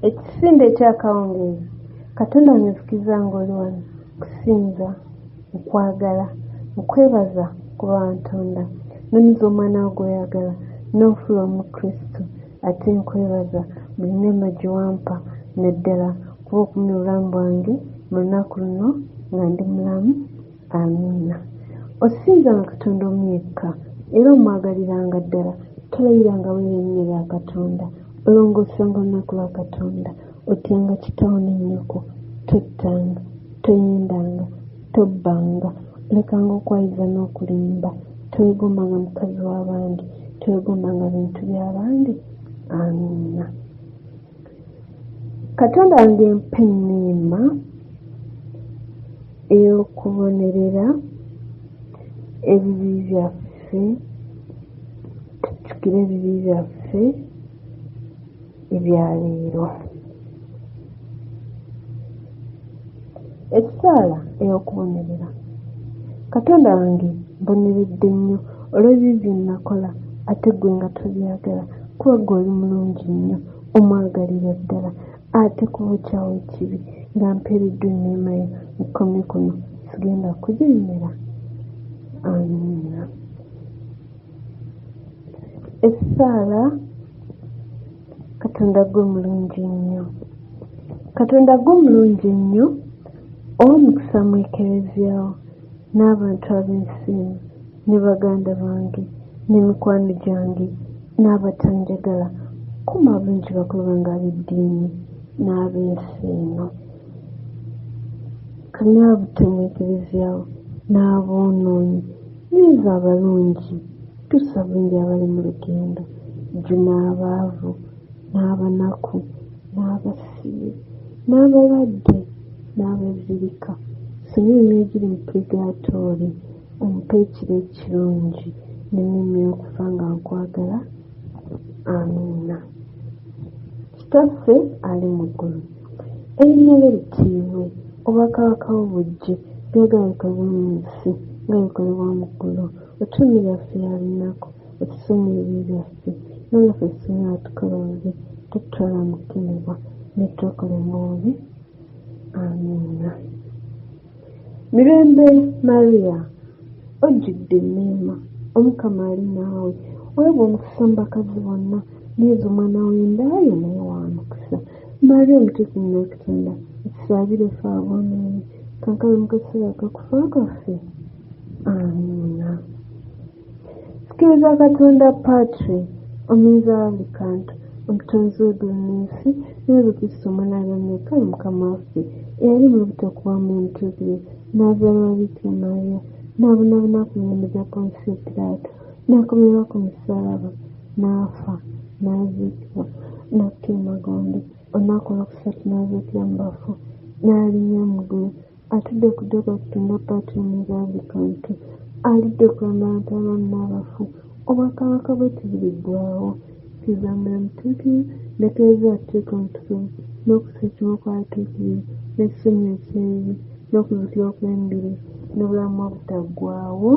Ekisinde eky'akawungeezi, Katonda onyizikiza ng'oli wano kusinza, mu kwagala, mu kwebaza kuba wantonda, nonyiza omwana wo gw'oyagala, n'onfula Omukristu. Ate nkwebaza buli neema gye wampa, naddala kuba okumye obulamu bwange mu lunaku luno nga ndi mulamu. Amiina. Osinzanga Katonda omu yekka era omwagariranga ddala. Tolayiranga weeyo erinnya lya Katonda. Olongoosanga olunaku lwa Katonda. Otyanga kitaawo ne nnyoko. Tottanga. Toyendanga. Tobbanga. Olekanga okwayiza n'okulimba. Teweegombanga mukazi w'abandi. Teweegombanga bintu by'abandi. Amiina. katonda wange mpa enneema ey'okubonerera ebibi byaffe tujjukire ebibi byaffe ebyaleero ekisaala ey'okubonerera katonda wange mboneredde nnyo olw'ebibi bye nnakola ate ggwe nga tobyagala kuba ggwe oli mulungi nnyo omwagalira ddala ate kubukyawo ekibi nga mpeereddwa enneema yo nkomye kuno sigenda kujemera amiina essaala katonda gwe mulungi nnyo katonda gwe mulungi nnyo owa mukisa mu ekereziyawo n'abantu ab'ensiimu ne baganda bange ne mikwano gyange n'abatanjagala kuma abungi bakulaba nga ab'eddiini n'ab'ensi eno kanywa abutemu ekereziyawo n'aboonoonyi nyiza abalungi Tusabire abali mu lugendo jjuna abaavu n'abanaku n'abasibe n'abalwadde n'abezirika sonyiwa emyoyo egiri mu purigaatooli ompe ekiro ekirungi nenyumya okufa nga nkwagala amiina kitaffe ali mu ggulu erinnya lye litiibwe obwakabaka bwo bujje byagala bikolebwa mu nsi nga bikolebwa mu ggulu Otuume yaffe ya lunaku, otusonyiwe ebibi byaffe, era nga ffe singa atukoronze, totutwala mu kukemebwa, ne twekole mu bubi. Amiina. Mirembe Maria, ojjudde enneema, Omukama ali naawe, weebwa omukisa mu bakazi bonna, neezo omwana w'enda yo naye wa mukisa. Maria omutuufu mu Katonda, otusaabire ffe aboonoonyi, kaakano mu kaseera akakufa kwaffe. amiina sikiriza katonda patri ominza wange kantu omutonzi w'eddunensi n'ebikristo omwanaabya meka mukama waffe eyali mu butokuwa mu ntuukire n'azaala wabikira maria n'abonabona ku mirembe gya ponsi piraato n'akomerwa ku musalaba n'afa n'aziikibwa n'akuta emagombe olunaku olwokusatu n'azuukira mu bafu n'alinnya mu ggulu atudde ku ddogo atutunda paatiini za buli kantu alidde okulambala nti abamu n'abafu obwakabaka bwe tibiriggwawo sizamula mutuukiri netereeza atuteeka omutukuvu n'okusa ekimu kwatuukirire n'ekisonyi ekyeyi n'okuzukira okw'embiri n'obulamu obutaggwawo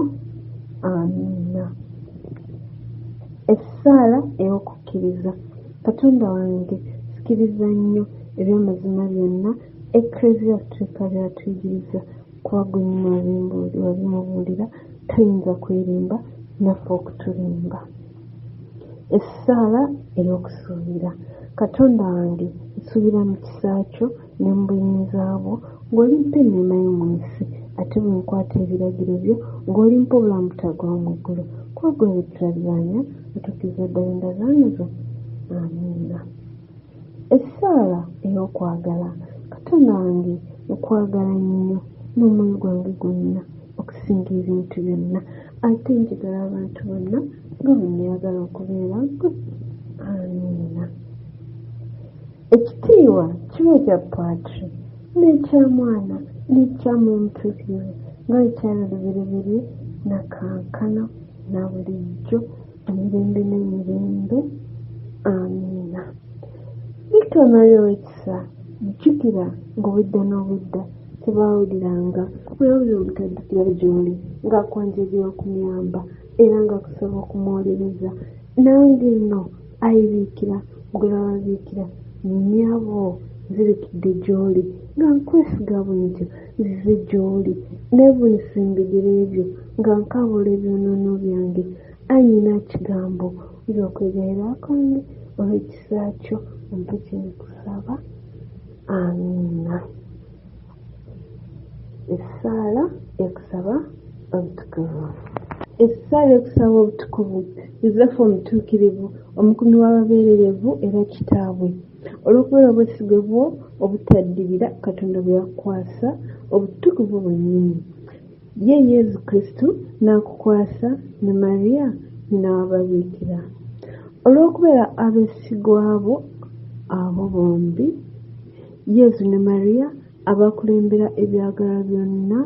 amiina essaala ey'okukkiriza katonda wange sikiriza nnyo eby'amazima byonna Eklezia Gatulika by'atuyigiriza kuba gwe nnyini wabimubuulira tayinza kwerimba naffe okutulimba. Essaala ey'okusuubira. Katonda wange nsuubira mu kisa kyo ne mu buyinza bwo ng'olimpa enneema yo mu nsi ate bwe nkwata ebiragiro byo ng'olimpa obulamu butaggwaawo mu ggulu kuba gwe bwe tulabiranya otuukiriza ddala endagaano zo. Amiina. Essaala ey'okwagala. Katonda wange nkwagala nnyo n'omwoyo gwange gwonna okusinga ebintu byonna ate njagala abantu bonna nga bwe neyagala okubeera gwe amiina ekitiibwa kiba ekya patri n'ekya mwana n'ekya mumtuukirivu nga ekyali lubereberye nakankana na bulijjo emirembe n'emirembe amiina bikka omali owekisa jjukira ng'obudda n'obudda tebaawuliranga bwewulira obutaddukira gy'oli ng'akwanjegera okumyamba era nga kusaba okumuwolereza nange nno ayibiikira gwerababiikira nyabo nzirikidde gy'oli nga nkwesiga bwentyo nzize gy'oli neevunisembigere ebyo nga nkaabula ebyonoono byange Ai nyina kigambo wulira okwegerera kwange olw'ekisa kyo ompe kye nkusaba amiina essaala ekusaba obutukuvu essaala ekusaba obutukuvu yosefu omutuukirivu omukumi w'ababeererevu era kitaabwe olw'okubeera obwesigwe bwo obutaddirira katonda bwe yakukwasa obutukuvu bwennyini Ye Yezu Kristu n'akukwasa ne Maria nyina wa Babiikira. Olw'okubeera abeesigwa bo abo bombi, Yezu ne Maria abakulembera ebyagala byonna,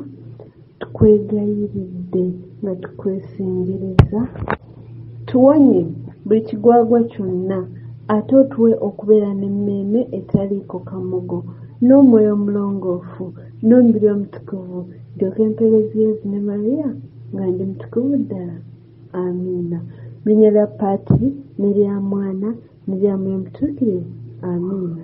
tukwegayiridde nga tukwesengereza. Tuwonye buli kigwagwa kyonna ate otuwe okubeera n'emmeeme etaliiko kamogo n'omwoyo omulongoofu. n'omubiri omutukuvu ndyoka empeerezi yezu ne mariya nga ndi mutukuvu ddala amiina mu linnya lya paati ne lya mwana ne lya mwoyo mutuukirivu amiina